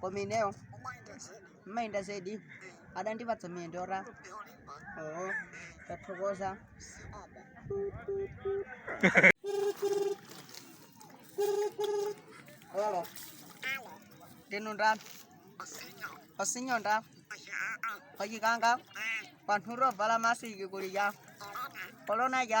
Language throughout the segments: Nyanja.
koma ineyo ndimayenda zedi adandipatsa miyendo yora oo tathokoza hello ndinu ndani osinyo nda kwa Chikanga anthu tovala masiki kuli ca kolona ca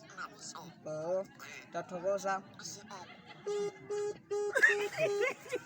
Oo, tathokoza.